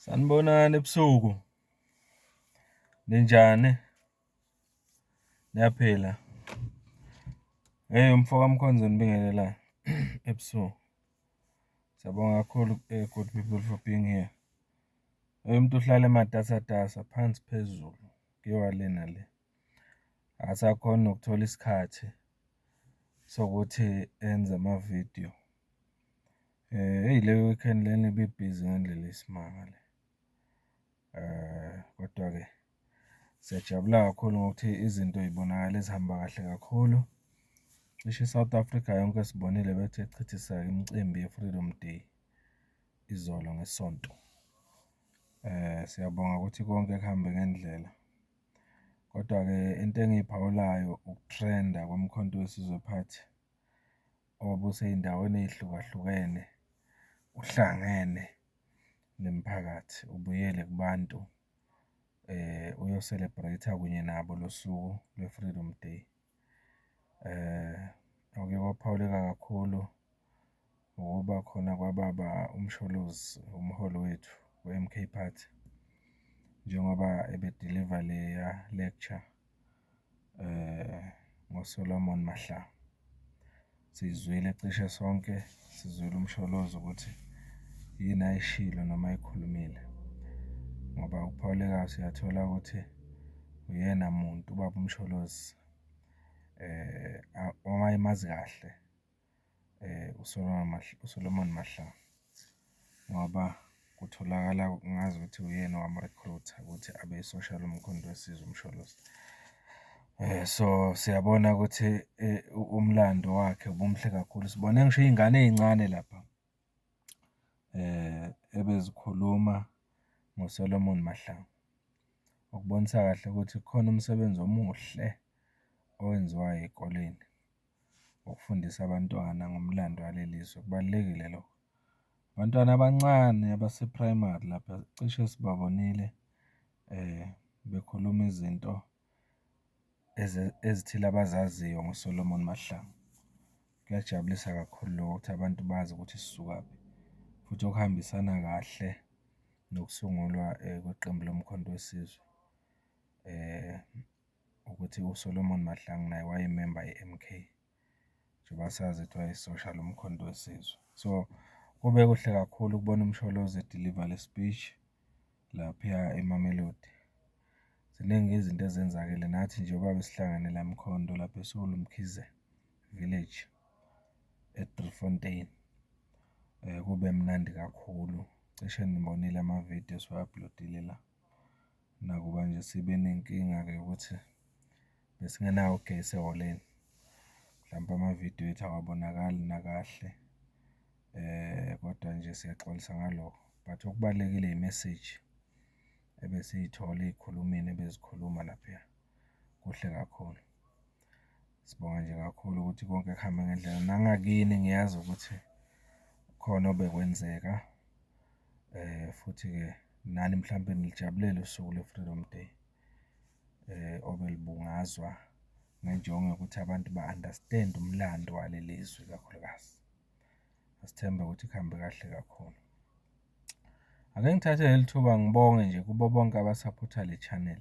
Sanibonani ebusuku, ninjani? Niyaphila? Hey umfo kaMkhonzo nibingelelayo ebusuku. Siyabonga kakhulu eh, good people for being here. Hey umuntu uhlale ematasatasa phansi phezulu kuyiwa lena le. Asakhona ukuthola isikhathi sokuthi enze ama-video. Eyi le weekend lena ibibhizi ngendlela eyisimanga le. Kodwa-ke siyajabula kakhulu ngokuthi izinto yibonakala ezihamba kahle kakhulu. Cishe i-South Africa yonke sibonile bethe chithisa imicimbi ye-Freedom Day izolo ngeSonto. Siyabonga ukuthi konke kuhambe ngendlela. Kodwa-ke into engiyiphawulayo ukutrenda koMkhonto weSizwe Party. obusey'ndaweni ey'hlukahlukene uhlangene nemiphakathi, ubuyele kubantu uyo-celebrate-a kunye nabo lo suku lwe-Freedom Day. Okuye kwaphawuleka kakhulu ukuba khona kwababa uMsholozi umholi wethu we-M_K Party njengoba ebediliva leya lecture. ngoSolomon Mahlangu. Siyizwile cishe sonke, sizwile uMsholozi ukuthi yini ayishilo noma ayikhulumile ngoba uPaulekazi siyathola ukuthi uyena muntu ubaba uMsholozi owaye emazi kahle. uSolomon Mahlangu ngoba kutholakala ngazi ukuthi uyena owamurikhurutha ukuthi abe isosha loMkhonto weSizwe uMsholozi. So, siyabona ukuthi umlando wakhe ubumuhle kakhulu, sibone ngisho iy'ngane ey'ncane lapha ebezikhuluma ngoSolomon Mahlangu, okubonisa kahle ukuthi kukhona umsebenzi omuhle owenziwa ey'koleni. ukufundisa abantwana ngomlando waleli zwe, kubalulekile lokho. Abantwana abancane abase-primary lapha cishe sibabonile bekhuluma izinto ezithile abazaziyo ngoSolomon Mahlangu. Kuyajabulisa kakhulu lokho ukuthi abantu bazi ukuthi sisukaphi, futhi okuhambisana kahle nokusungulwa kweqembu loMkhonto weSizwe . ukuthi uSolomon Mahlangu naye wayememba ye-MK njengoba sazi ukuthi wayesosha loMkhonto weSizwe. So, kube kuhle kakhulu ukubona uMsholozi e-deliver le speech laphuya eMamelodi. Ziningi izinto ezenzakele nathi njengoba besihlangene la eMkhonto lapho eSolomkhize Village e-Driefontein, kube mnandi kakhulu. Cishe nibonile ama-video esiwa-upload-ile la. Nakuba nje sibe nenkinga-ke yokuthi besingenawo ugesi ehholeni, mhlampe amavidiyo ethu awabonakali nakahle, kodwa nje siyaxolisa ngalokho. But okubalulekile yimeseji ebesiyithola ey'khulumini ebezikhuluma lapha, kuhle kakhulu. Sibonga nje kakhulu ukuthi konke kuhambe ngendlela. Nangakini ngiyazi ukuthi khona obekwenzeka eh futhi-ke nani mhlawumbe nilijabulele usuku lwe-Freedom Day eh obelibungazwa ngenjongo yokuthi abantu ba-understand umlando waleli zwe kakhulukazi. Asithembe ukuthi kuhambe kahle kakhulu. Ake ngithathe leli thuba ngibonge nje kubo bonke abasaphotha le channel.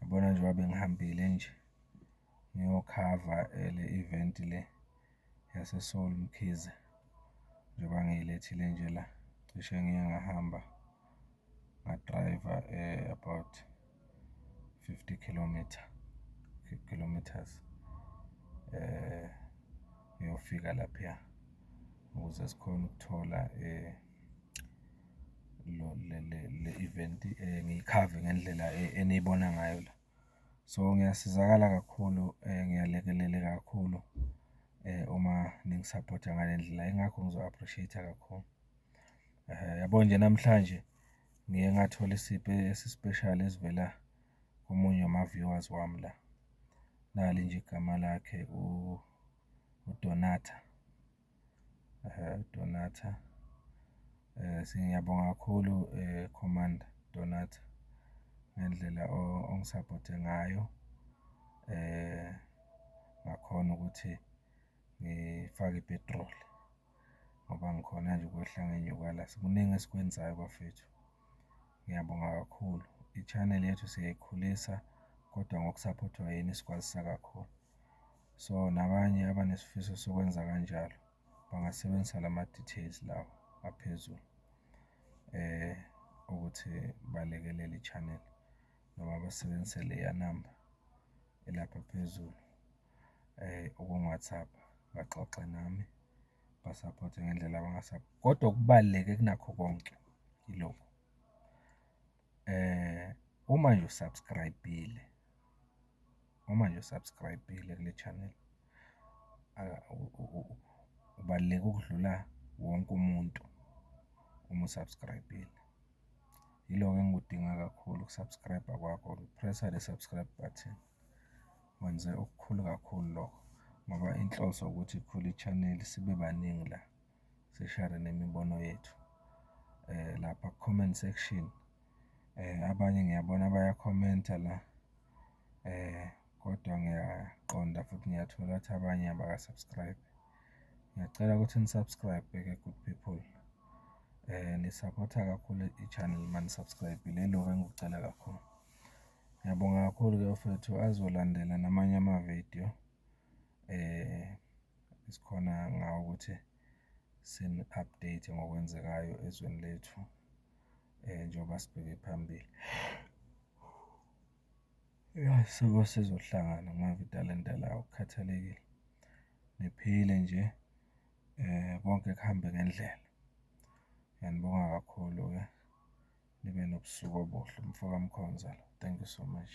Yabona njengoba bengihambile nje ngiyokhava le event le yaseSoul Mkhize, njengoba ngiyilethile nje la, cishe ngiye ngahamba ngadrayiva about fifty kilometre, kilometres ngiyofika laphiya ukuze sikhone ukuthola . le-event ngiyikhave ngendlela eniyibona ngayo la. So, ngiyasizakala kakhulu, ngiyalekeleleka kakhulu uma ningisaphotha ngale ndlela, yingakho ngizo-appreciate-a kakhulu. Yabo nje namhlanje ngiye ngathola isipho esi-special esivela komunye wama-viewers wami la, nali nje igama lakhe uDonata. Donata. Ngiyabonga kakhulu Commander Donata ngendlela ongisaphothe ngayo ngakhona ukuthi ngifake i-petrol ngoba ngikhona nje ukwehla ngenyuka la. Kuningi esikwenzayo bafethu. Ngiyabonga kakhulu. I-channel yethu siyayikhulisa kodwa ngokusaphothwa yini sikwazisa kakhulu. So nabanye abanesifiso sokwenza kanjalo bangasebenzisa lama details lawa aphezulu ukuthi balekelele i-channel noma basebenzise leya namba elapha phezulu ukungi-WhatsApp baxoxe nami basaphothe ngendlela kodwa okubaluleke kunakho konke ilokhu. Uma nje u-subscribe-ile Uma nje u-subscribe-ile kule channel ubaluleke ukudlula wonke umuntu uma u-subscribe-ile. Yiloko engikudinga kakhulu uku-subscribe kwakho, pressa le subscribe button. Wenze okukhulu kakhulu lokho ngoba inhloso ukuthi ikhule i-channel sibe baningi la. sishare nemibono yethu lapha ku-comment section. Abanye ngiyabona baya-comment-a la kodwa ngiyaqonda futhi ngiyathola ukuthi abanye abaka-subscribe. Ngiyacela ukuthi ni-subscribe-e ke good people. Nisaphotha kakhulu i-channel uma ni-subscribe-ile, ilokho engikucela kakhulu. Ngiyabonga kakhulu-ke bafwethu azolandela namanye amavidiyo . esikhona ngawo ukuthi sini-update ngokwenzekayo ezweni lethu njengoba sibheke phambili. Ya, siyeke sizohlangana mave italente lawo kukhathalekile, niphile nje konke kuhambe ngendlela. Ngiyanibonga kakhulu-ke, nibe nobusuku obuhle, umfokaMkhonza lo, thank you so much.